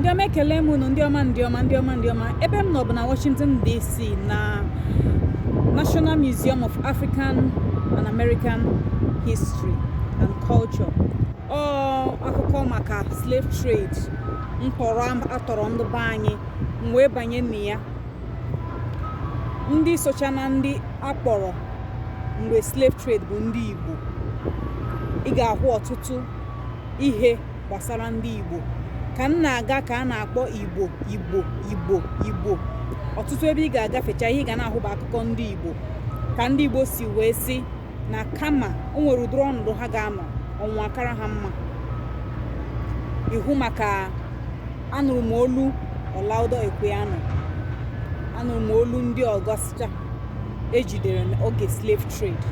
ndị ọma ekele m unu ndị ọma ndị ọma ndị ọma ndị ọma ebe m nọ bụ na Washington DC na National Museum of African and American History and Culture ọ akụkọ maka slave trade mkpọrọ atọrọ ndị be anyị m wee banye na ya ndị socha na ndị akpọrọ mgbe slave trade bụ ndị Igbo ị ga-ahụ ọtụtụ ihe gbasara ndị Igbo ka m na-aga ka a na-akpọ Igbo Igbo Igbo Igbo ọtụtụ ebe ị ga-agafecha ihe ị ga na-ahụ bụ akụkọ ndị Igbo ka ndị Igbo si wee sị na kama o nwere ụdịrị ọnọdụ ha ga-anọ ọnwụ akara ha mma ihu maka anụrụ m olu Olaudah Equiano anụrụ m olu ndị ọzọ socha ejidere n'oge slave trade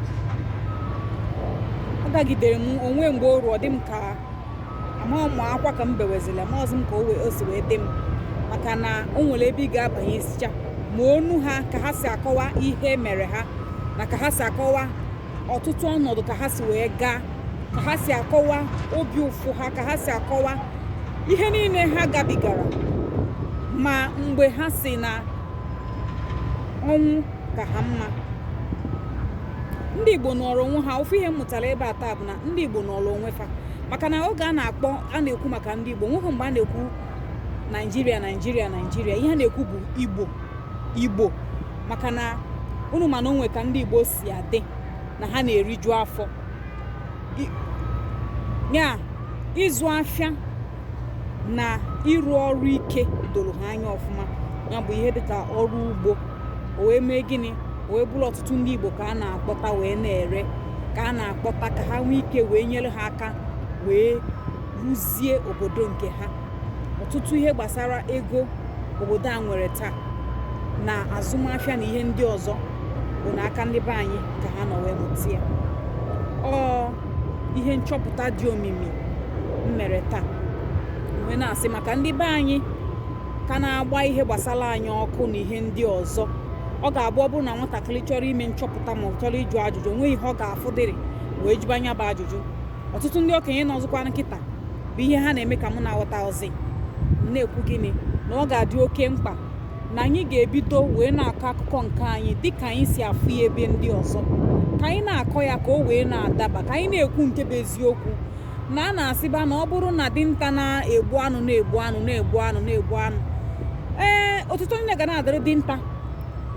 ọ dagidere m o nwe mgbe o ru ọ dị m ka amaghị m akwa ka m bewezila marọzi m ka o si wee dị m maka na o nwere ebe ị ga-abanye sicha ma onu ha ka ha si akọwa ihe mere ha na ka ha si akọwa ọtụtụ ọnọdụ ka ha si wee gaa ka ha si akọwa obi ụfụ ha ka ha si akọwa ihe niile ha gabigara ma mgbe ha sị na ọnwụ ka ha mma ndị igbo nọrọ onwe ha ofu ihe m mụtara ebe a taa bụ na ndị igbo nọrọ onwe fa maka na oge a na-akpọ a na-ekwu maka ndị igbo nweghị mgbe a na-ekwu naijiria naijiria naijiria ihe a na-ekwu bụ igbo igbo maka na unu ma na o nwe ka ndị igbo si adị na ha na-eriju afọ ya ịzụ afịa na ịrụ ọrụ ike doro ha anya ọfụma ya bụ ihe dịka ọrụ ugbo o wee mee gịnị o wee bụrụ ọtụtụ ndị igbo ka a na-akpọta wee na-ere ka a na-akpọta ka ha nwee ike wee nyere ha aka wee rụzie obodo nke ha ọtụtụ ihe gbasara ego obodo a nwere taa na azụmafịa na ihe ndị ọzọ bụ n'aka ndị be anyị ka ha nọ wee mụta ya ọ ihe nchọpụta dị omimi m mere taa wee na-asị maka ndị be anyị ka na-agba ihe gbasara anyị ọkụ na ihe ndị ọzọ ọ ga-abụ ọ bụrụ na nwatakịrị chọrọ ime nchọpụta ma ọ chọrọ ịjụ ajụjụ nweghị ihe ọ ga-afụdịrị wee jụba nya bụ ajụjụ ọtụtụ ndị okenye nọọzụkwanụ kịta bụ ihe ha na-eme ka mụ na-aghọta ozi na-ekwu gịnị na ọ ga-adị oke mkpa na anyị ga-ebido wee na-akọ akụkọ nke anyị dị ka anyị si afụ ya ebe ndị ọzọ ka anyị na-akọ ya ka o wee na-adaba ka anyị na-ekwu nke bụ eziokwu na a na-asịba na ọ bụrụ na dinta na-egbu anụ na-egbu anụ na-egbu anụ na-egbu anụ ee otuto niine ga na-adịrị dinta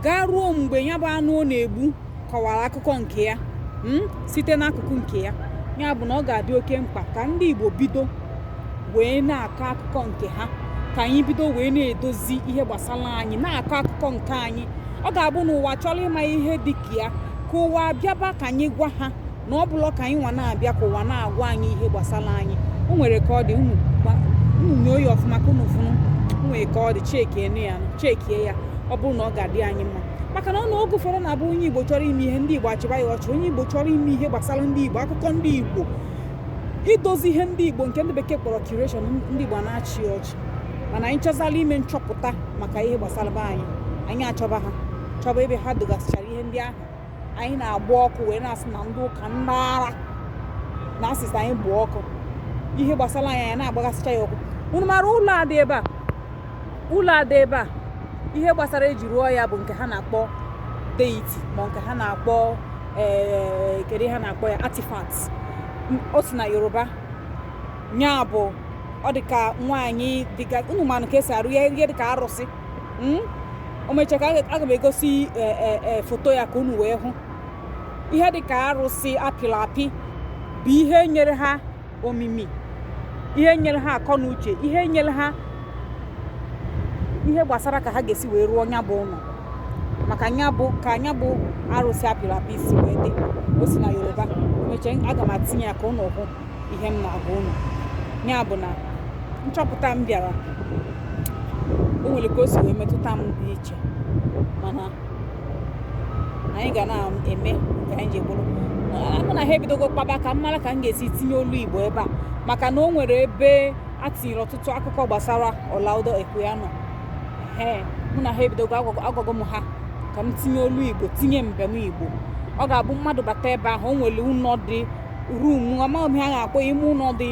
gaa ruo mgbe ya bụ anụ ọ na-egbu kọwara akụkọ nke ya hmm, site n'akụkụ nke ya ya bụ na ọ ga-adị oke mkpa ka ndị Igbo bido wee na-akọ akụkọ nke ha ka anyị bido wee na-edozi ihe gbasara anyị na-akọ akụkọ nke anyị ọ ga-abụ na ụwa chọrọ ịma ihe dị ka ya ka ụwa bịaba ka anyị gwa ha na ọ bụrọ ka anyị nwa na-abịa ka ụwa na-agwa anyị ihe gbasara anyị o nwere ka ọ dị unu nyoo ya ọfụma ka unu fụ na o nwere ka ọ dị chekie ya chekie ya ọ bụrụ na ọ ga-adị anyị mma maka na ọ na oge ụfọdụ na-abụ onye Igbo chọrọ ime ihe ndị Igbo achịba ya ọchị onye Igbo chọrọ ime ihe gbasara ndị Igbo akụkọ ndị Igbo idozi ihe ndị Igbo nke ndị bekee kpọrọ curation ndị Igbo na-achị ọchị mana anyị chọzala ime nchọpụta maka ihe gbasara be anyị anyị achọba ha chọba ebe ha dogasịchara ihe ndị ahụ anyị na-agba ọkụ wee na-asị na ndị ụka ndị ara na asịsị anyị bụ ọkụ ihe gbasara anyị anyị na-agbagasịcha ya ọkụ unu mara ụlọ a dị ebe a ụlọ a dị ebe a ihe gbasara e ji rụọ ya bụ nke ha na-akpọ deity ma nke ha na-akpọ ee kedu ihe a na-akpọ ya artifact M- o si na yoruba nya bụ ọ dị ka nwaanyị dị ka unu manụ ka e si arụ ya ihe dị ka arụsị Mm? o mechaa ka aga aga m egosi e, e, e, foto ya ka unu wee hụ ihe dị ka arụsị apịrị apị bụ ihe nyere ha omimi ihe nyere ha akọ na uche ihe nyere ha ihe gbasara ka ha ga-esi wee rụọ nya bụ ụlọ maka nya bụ ka nya bụ arụsị apịrị apị si wee dị o si na yoruba mechaa aga m atinye ya ka unu hụ ihe m na-agwa unu ya bụ na nchọpụta m bịara o nwere ka o si wee metụta m dị iche mana anyị ga na-eme ka anyị ji bụrụ mụ na ha ebidogo kpaba ka m mara ka m ga-esi tinye olu igbo ebe a maka na o nwere ebe a tinyere ọtụtụ akụkọ gbasara Olaudah Equiano ee mụ na ha ebidogo agwago m ha ka m tinye olu igbo tinye mbem igbo ọ ga-abụ mmadụ bata ebe ahụ o nwere ụlọ dị room amaghị m ha ga-akpọ ime ụlọ dị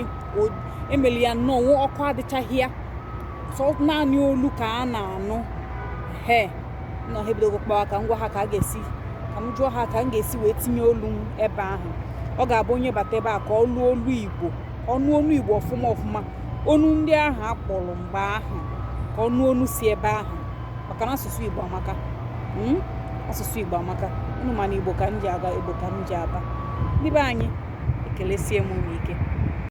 e meli ya nnọọ ọkụ adịchaghị ya sọ naanị olu ka a na-anụ he mụ na ha ebidogo kpawa ka m gwa ha ka a ga-esi ka m jụọ ha ka m ga-esi wee tinye olu m ebe ahụ ọ ga-abụ onye bata ebe a ka ọ nụọ olu igbo ọ nụ olu igbo ọfụma ọfụma onu ndị ahụ a kpọrọ mgbe ahụ ka ọ nụ onu si ebe ahụ maka na asụsụ igbo amaka hmm? asụsụ igbo amaka unu ma na igbo ka m ji aga igbo ka m ji aba ndị be anyị ekelesie m unu ike